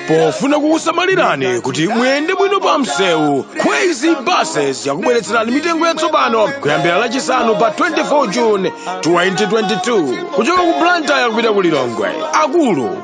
pofuna kukusamalirani kuti muyende bwino pa msewu crazy buses yakubweretserani mitengo yatsopano kuyambira lachisanu pa 24 june 2022 kuchoka ku blantyre kupita ku lilongwe akulu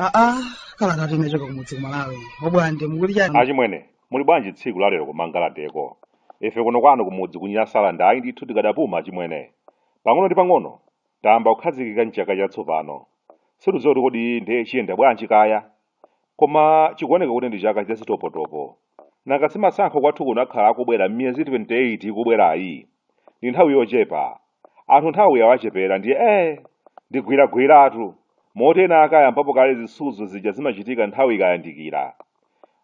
aa kalata yochoka kumudzi ku Malawi obwande mukuti chani achimwene muli bwanji tsiku lalero kumangalandeko ife kuno kwanu kumudzi ku Nyasaland ayi ndithu tikadapuma achimwene pang'ono ndi pang'ono tayamba kukhazikika mchaka chatsopano sitidziwa kuti kodi ndiye chiyenda bwanji kaya Koma chikuoneka kuti ndi chaka cha zitopotopo. Nanga si masankho kwathu kuno akhala akubwera m'miyezi 28 ikubwerayi? Ndi nthawi yochepa. Anthu nthawi yawachepera ndiye ee! Ndi gwiragwiratu. Moti ena ake ayambapo kale zisudzo zija zimachitika nthawi ikayandikira.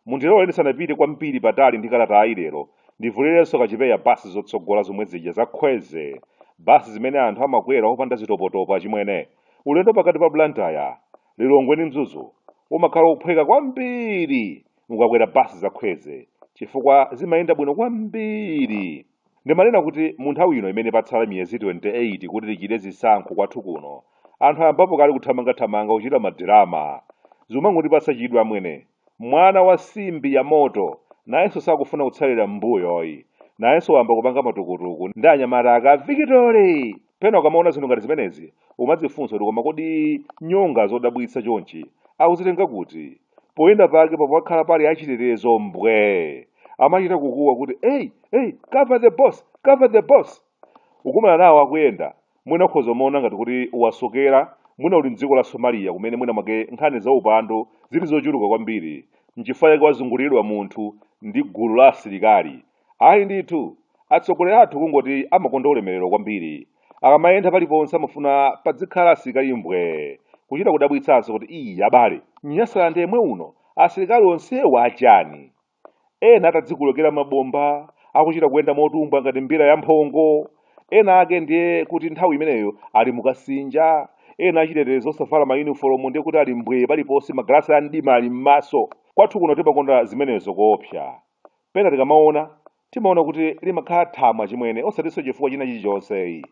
Mundilole ndisanapite kwambiri patali ndi kalatayi lero, ndivulirenso kachipeya bus zotsogola zomwe zija za Kwezy, bus zimene anthu amakwera opanda zitopotopo achimwene. Ulendo pakati pa Blantyre, Lilongwe ndi Mzuzu umakhala wophweka kwambiri mukakwera bus za Kwezy chifukwa zimayenda bwino kwambiri. Ndimanena kuti mu nthawi ino imene patsala miyezi 28 kuti tichite zisankho kwathu kuno, anthu ayambapo kale kuthamangathamanga kuchita madirama. Zumangondipatsa chidwi amwene. Mwana wa nsimbi ya moto nayenso sakufuna kutsalira m'mbuyo ayi. Nayenso wayamba kupanga matukutuku ndi anyamata ake a Vikitore! Pena ukamaona zinthu ngati zimenezi, umadzifunsa kuti koma kodi nyonga zodabwitsa chonchi akuzitenga kuti? Poyenda pake pamakhala pali achitetezo mbwee! Amachita kukuwa kuti, Ei! Ei! Cover the boss! Cover the boss! Ukakumana nawo akuyenda, mwina ukhoza kumaona ngati kuti wasokera, mwina uli m'dziko la Somalia kumene mwinamwake nkhani zaupandu zili zochuluka kwambiri, n'chifukwa chake wazunguliridwa munthu ndi gulu la asilikali. Ayi ndithu, atsogoleri athu kungoti amakonda ulemerero kwambiri. Akamayenda paliponse amafuna padzikhala asilikali mbwee, kuchita kudabwitsanso kuti, Iii abale! M'Nyasaland yemwe uno asilikali onsewa achani? Ena atadzikolekera mabomba, akuchita kuyenda motumbwa ngati mbira yamphongo, ena ake ndiye kuti nthawi imeneyo ali mu kasinja, ena achitetezo osavala mayunifolomu ndiye kuti ali mbwee paliponse, magalasi a mdima ali m'maso. Kwathu kuno timakonda zimenezo koopsa. Pena tikamaona, timaona kuti limakhala thamo achimwene osatinso chifukwa china chilichonse ayi.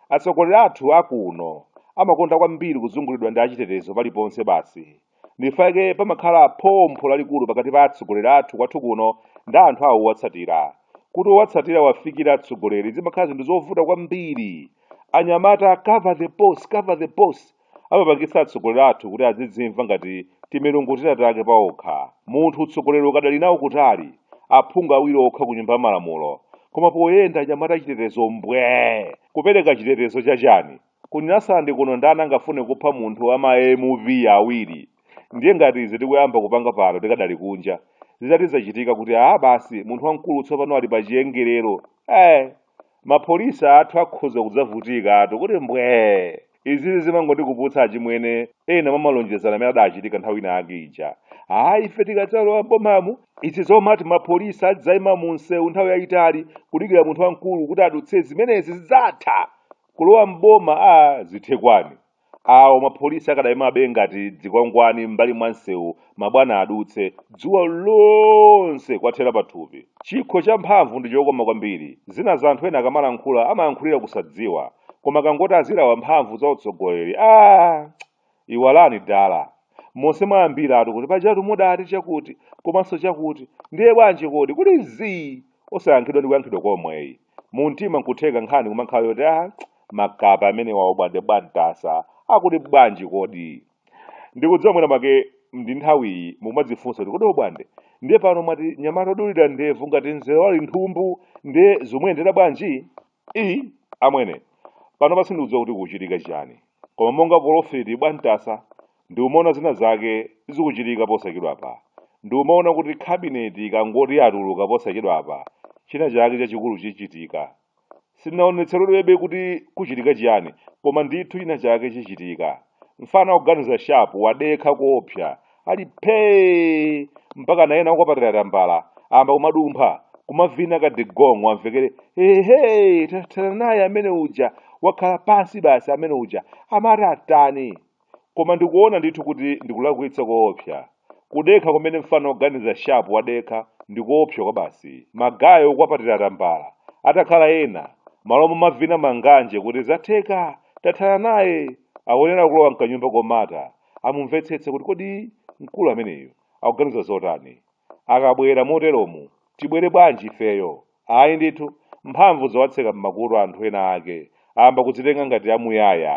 Atsogoleri athu a kuno amakonda kwambiri kuzungulidwa ndi achitetezo paliponse basi. Ndichifukwa chake pamakhala phompho lalikulu pakati pa atsogoleri athu kwathu kuno ndi anthu awo owatsatira. Kuti owatsatira awafikire atsogoleri zimakhala zinthu zovuta kwambiri. Anyamata cover the boss, cover the boss. Amapangitsa atsogoleri athu kuti azidzimva ngati timilungu tina take paokha. Munthu utsogoleri ukadali nawo kutali, aphungu awiri okha ku Nyumba ya Malamulo, koma poyenda anyamata achitetezo mbwee! Kupereka chitetezo cha chani? Ku Nyasaland kuno ndani angafune kupha munthu wa ma MP awiri? Ndiye ngati izi tikuyamba kupanga pano tikadali kunja, zitati zachitika kuti aah basi munthu wamkulu tsopano ali pa chiwongolero, eeh! mapolisa athu akhoza kudzavutikatu kuti mbwee izizi zimangondikumbutsa achimwene ena m'malonjezano amene adachitika nthawi ina yake ija ayi ife tikadzalowa mbomamu izi zomati mapolisa adzaima mu msewu nthawi yayitali kudikira munthu wamkulu kuti adutse zimenezi zidzatha kulowa mboma a zithe kwani Awo mapolisi akadaimabe ngati dzikwangwani m'mbali mwa msewu mabwana adutse, dzuwa lonse kuwathera pathupi. Chikho cha mphamvu ndi chokoma kwambiri. Zinazo anthu ena akamalankhula amayankhulira kusadziwa, koma akangoti azilawa mphamvu za utsogoleri, aah! Iwalani dala. Monse mwayambiratu kuti pajatu mudati chakuti, komanso chakuti, ndiye bwanji kodi? Kuti zii! Osayankhidwa ndi kuyankhidwa komwe yi. mu mtima nkutheka nkhani kumakhala yoti a makape amenewa obwande bwantasa akuti bwanji kodi ndikudziwa mwina make ndi nthawiyi mukumadzifunsa kuti kodi obwande ndiye pano mwati nyamata odulira ndevu ngati mzere wa linthumbu ndiye zomuyendera bwanji i amwene panopa sindikudziwa kuti kuchitika chiyani koma monga polofeti bwantasa Ndiumaona zina zake zikuchitika posachedwapa. Ndiumaona kuti kabineti ikangoti yatuluka posachedwapa, china chake chachikulu chichitika. Sindinaonetseredwebe kuti kuchitika chiyani, koma ndithu china chake chichitika. Mfana oganiza shapu wadekha koopsa, ali phee! Mpakana ena okwapatira tambala ayamba kumadumpha, kumavina kadigong'o amvekere, ehe, tathana naye amene uja, wakhala pansi basi amene uja, amati atani? Koma ndikuona ndithu kuti ndikulakwitsa koopsa. Kudekha kumene mfana oganiza sharp wadekha ndikoopsa kwabasi. Magaye okwapatira tambala atakhala ena, m'malo momavina manganje kuti zatheka! Tathana naye! Akuyenera kulowa mkanyumba komata, amumvetsetse kuti kodi mkulu ameneyu akuganiza zotani? Akabwera moteromu, tibwere bwanji ifeyo? Ayi ndithu, mphamvu zowatseka m'makutu anthu ena ake, ayamba kudzitenga ngati amuyaya.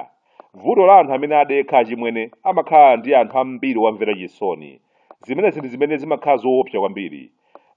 Vuto la anthu amene adekha achimwene amakhala ndi anthu ambiri owamvera chisoni. Zimenezi ndi zimene zimakhala zoopsa kwambiri.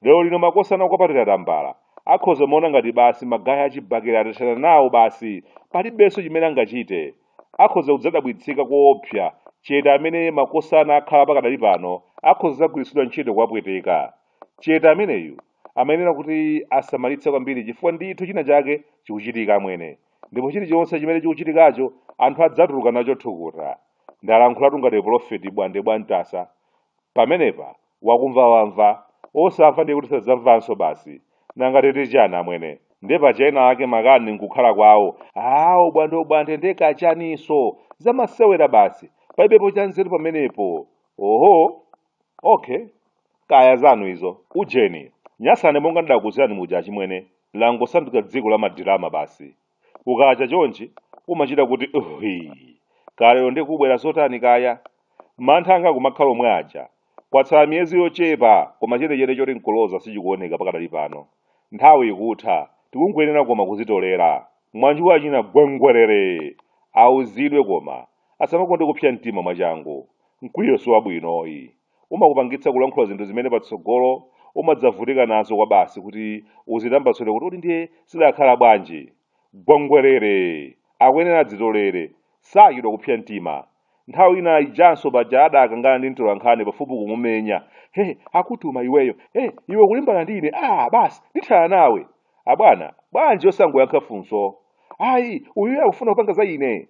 Lero lino makosana okwapatira tambala akhoza umaona ngati basi magaye achibakera atathana nawo basi palibenso chimene angachite. akhoza kudzadabwitsika koopsa chete amene makosana akhala pakadali pano akhoza dzagwiritsidwa ntchito kuwapweteka. Chete ameneyu amayenera kuti asamalitse kwambiri chifukwa ndithu china chake chikuchitika amwene. Ndipo chilichonse chimene chikuchitikacho anthu adzatuluka nacho thukuta. Ndalankhulatu ngati pulofeti Bwande Bwantasa. Pamenepa wakumva wamva, osamva ndiye kuti sadzamvanso basi. Nanga titi chani amwene? Ndiye paja ena ake makani n'kukhala kwawo, aa ubwandebwande ndiye kachaninso? Zamasewera basi, palibepo chanzeru pamenepo. Oho! Okay. Kaya zanu izo. Ujeni, Nyasane monga ndidakuuzirani muja achimwene, langosanduka dziko la madirama basi. Kukacha chonchi umachita kuti hwi, kaya lero ndiye kubwera zotani kaya? Mantha anga akumakhala omwe aja. Kwatsala miyezi yochepa koma chenicheni choti n'kuloza sichikuoneka pakadali pano. Nthawi ikutha, tikungoyenera koma kuzitolera. Mwanju wachina Gwengwerere! Auzidwe koma, asamakonde kupsa mtima mwachangu. Mkwiyo si wabwinoyi. umakupangitsa kulankhula zinthu zimene patsogolo umadzavutika nazo kwabasi kuti uzitambasule kuti kodi ndiye zidakhala bwanji? Gwengwerere! Akuyenera adzitolere, sachedwa kupsa mtima. Nthawi ina ijanso paja adakangana ndi mtolankhani pafupi kumumenya. He! Akutuma iweyo! He! Iwe ukulimbana ndi ine? Aaa basi! Ndithana nawe! Abwana, bwanji osangoyankha funso? Ayi, uyuyu akufuna kupanga za ine!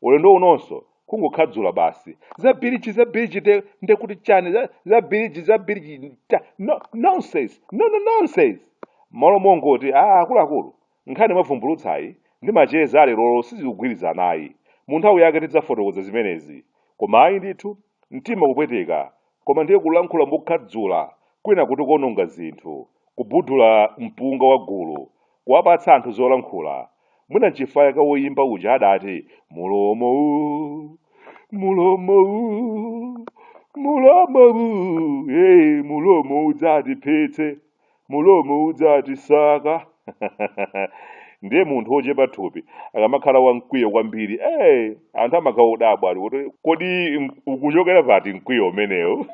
ulendo unonso kungokhadzula basi za biliji za biliji nde nde kuti chani za, za biliji za biliji cha no, nonsense no, no nonsense malo mongoti a akuluakulu nkhani mwavumbulutsayi ndi macheza alerolo sizikugwirizanayi mu nthawi yake tidzafotokoza zimenezi koma ayi ndithu Mtima kupweteka, koma ndiye kulankhula mokhadzula kwina kuti kuononga zinthu, kubudula mpunga wa gulu, kuwapatsa anthu zolankhula. Mwina nchifukwa chake woyimba uja adati, Mulomo u, mulomo u, mulomo u, hey, mulomo udzatiphetsa. mulomo udzatisaka ndiye munthu wochepa thupi akamakhala wamkwiyo kwambiri eh anthu amakhaudabwa ali kuti kodi m- ukuchokera pati mkwiyo umenewu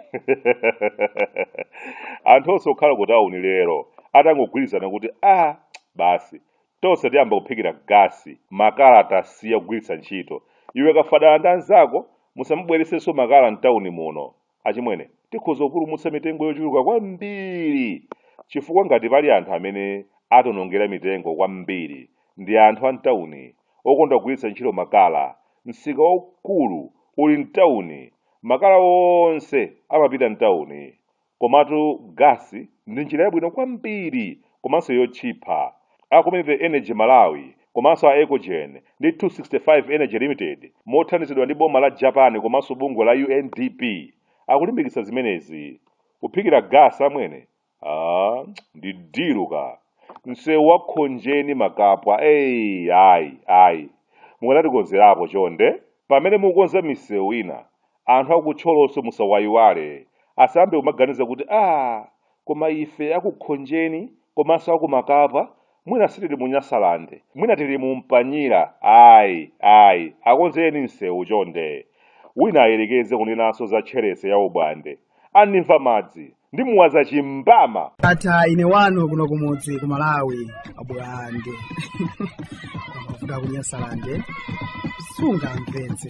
anthu onse okhala ku tauni lero atangogwirizana kuti a basi tonse tiyamba kuphikira gasi makala tasiya kugwiritsa ntchito iwe kafadala ndi anzako musamabweretsenso makala mtawuni muno Achimwene, tikhoza kupulumutsa mitengo yochuluka kwambiri chifukwa ngati pali anthu amene akutionongera mitengo kwambiri ndi anthu a m'tauni okonda kugwiritsa ntchito makala. Msika waukulu uli m'tauni. Makala onse amapita m'tauni. Komatu gasi ndi njira yabwino kwambiri komanso yotchipa. A Community Energy Malawi komanso a Ecogen ndi 265 Energy Limited mothandizidwa ndi boma la Japan komanso bungwe la UNDP akulimbikitsa zimenezi. Kuphikira gasi amwene? Ah, ndi dilu ka. Msewu wa Khonjeni Makapwa, ayi, ayi. Mukanatikonzerapo chonde. Pamene mukukonza misewu ina, Anthu aku Thyolonso musawayiwale, asayambe kumaganiza kuti aah koma ife aku Khonjeni komanso aku Makapwa mwina sitili mu Nyasaland, mwina tili mu Mpanyira ayi ayi akonzereni nsewu chonde. Wina ayerekeze kunenanso za tcherese ya Ubwande. Andimva madzi ndimuwaza chimbama. Ata ine wanu kuno kumudzi ku Malawi abwande kuda kunyasalande sunga mvetse